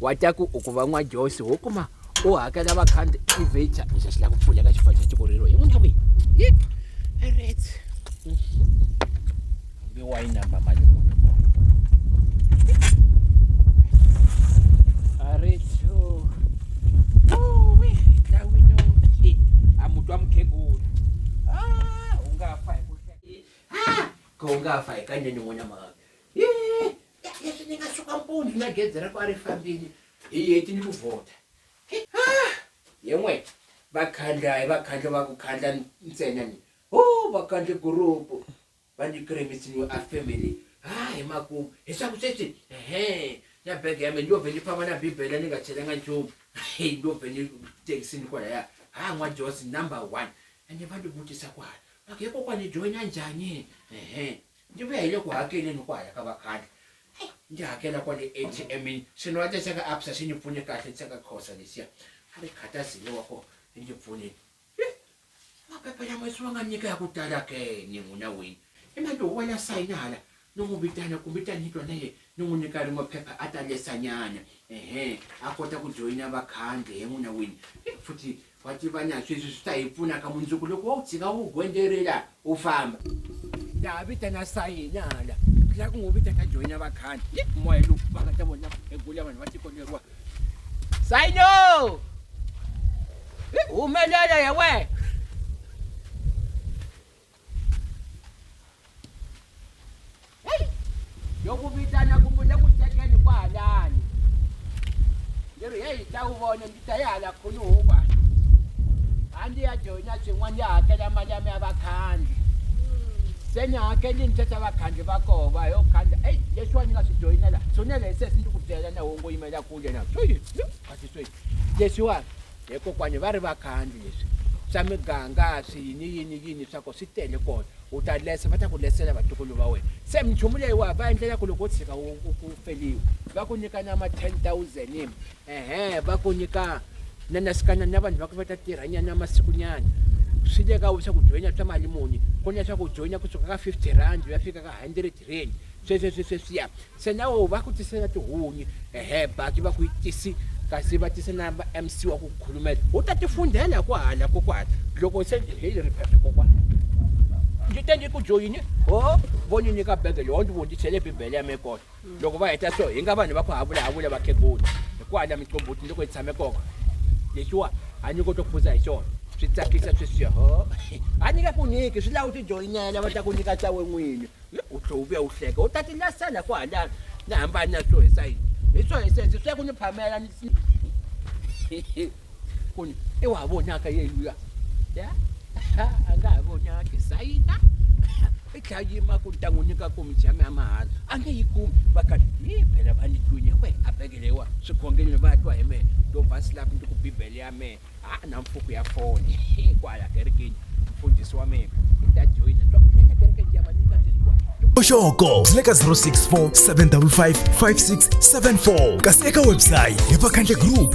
wa ta ku u ku va n'wa josi wo kuma u hakela vakhanti i vecha ni xa xi lava ku pfuleka xi fana xa tiko rero hi n'wina kwihi yi ret hambi wa yi namba mali areto uwi dawino i amutwa mukhegula ah, u nga fa hi ku hlaya ah, ka u nga fa hi ka nene n'wina mhaka leswi ni nga suka mpundzu na gezi ra ku a ri fambile hi heti ni ku vhota ye n'we vakhandla hi vakhandla va ku khandla ntsena ni ho vakhandla gurupu va ni kremisi ni a family ha hi makumu hi swa ku sweswi ehe na bege ya mina ni yo vhe ni famba na bibele ni nga chelanga nchumu ni yo vhe ni tekisini kwalaya ha n'wa josi number one ende va ni vutisa ku hala va ku he kokwani joyina njhani ehe Ndzi vuya hi le ku hakeleni ku haya ka vakhandli. Ai, ndzi hakela kwale ATM-ini, swinuwata swa ka Absa swi ndzi pfune kahle, swa ka Khoza leswiya a ri khatazile wa kona swi ndzi pfunile. Hi, maphepha lama se wa nga nyika ya ku tala ke ni n'wina wini. Hi mani loyi wa la sayina hala? Ni n'wi vitana kumbe ta ni twa na yena ni n'wi nyika rin'we phepha a ta lesanyana, ehe, a kota ku joyina vakhandli, he n'wina wini. Hi, futhi Wa tiva na sweswi swi ta hi pfuna ka mundzuku loko wo tshika wu gondzelela u famba ta ha vitana sayini hala la ku n'wi vita ta joyina vakhani moya lowu va nga ta vona egula vanhu va tiko leriwa sayino humelela ya wena heyi yo ku vitana ku pfune ku tekeni kwahalani ndzi ri heyi ta wu vona ndzi ta yi hala khuluhukwa a ndzi ya joyina swin'wana ndzi hakela mali ya mi ya vakhandzi se ni hakeli ni thetha vakhandzi va koho va yo khandza eyi leswiwa ni nga swi joyinela swinele hi sesi ndzi ku byela na wongo yimela kule na sweswi leswiwani He kokwani va ri vakhandli leswi swa miganga swi yini yini yini swa ko swi tele kona u ta lesa va ta ku lesela vatukulu va wena se minchumu leyiwa va endlela ku loko u tshika u feliwa va ku nyika na ma 10000 im ehe va ku nyika na nasikana na vanhu va ku va ta tirhanyana masikunyana swi le ka wena swa ku joyina swa mali muni ku na swa ku joyina kusuka ka 50 rand u ya fika ka 100 Rin. Swesweswesweswiya, Senawo va ku tise na tihunyi, ehe, Baki va ku yi tisi, kasi va tise na va MC wa ku khulumela. U ta ti fundhela kwahala kokwana. Loko se hi ri phephe kokwana. Ndzi te ndzi ku joyini, ho, vo ndzi nyika bege leyi, ho ndzi vondzisele Bibele ya me kona. Loko va heta so, hi nga vanhu va ku havulahavula vakhegula, hi kwahala minqombhotini loko hi tshame kona. Leswiwa. a nyiko to phuza hi xona swi tsakisa sweswi ho a ni nge ku nyiki swi lava u tijoyinela va ta ku nyika ta we n'wini u tlhe u vuya u hleka u ta ti lasela ku hala ni hambani na swo hisa yini hi swo hisa hisi swe ku ni phamela ni ku ni i wa vonaka yeluya ya a nga ha vonaki sayina i tlhela yima ku ni ta n'wi nyika komichi ya mi ya mahala a nge yi kumi va kati hi phela va ni tlwini we a bekelewa swikhongeleni va twa hi mehe to va slap ndi ku bibele ya mehe ha na mfuku ya foni kwala kerekeni mfundhisi wa mehe i ta joyina to nene kereke ndi ya va nyika tizwa oxoko byi le ka 064 755 5674 kasi eka websayi hi vakhandle group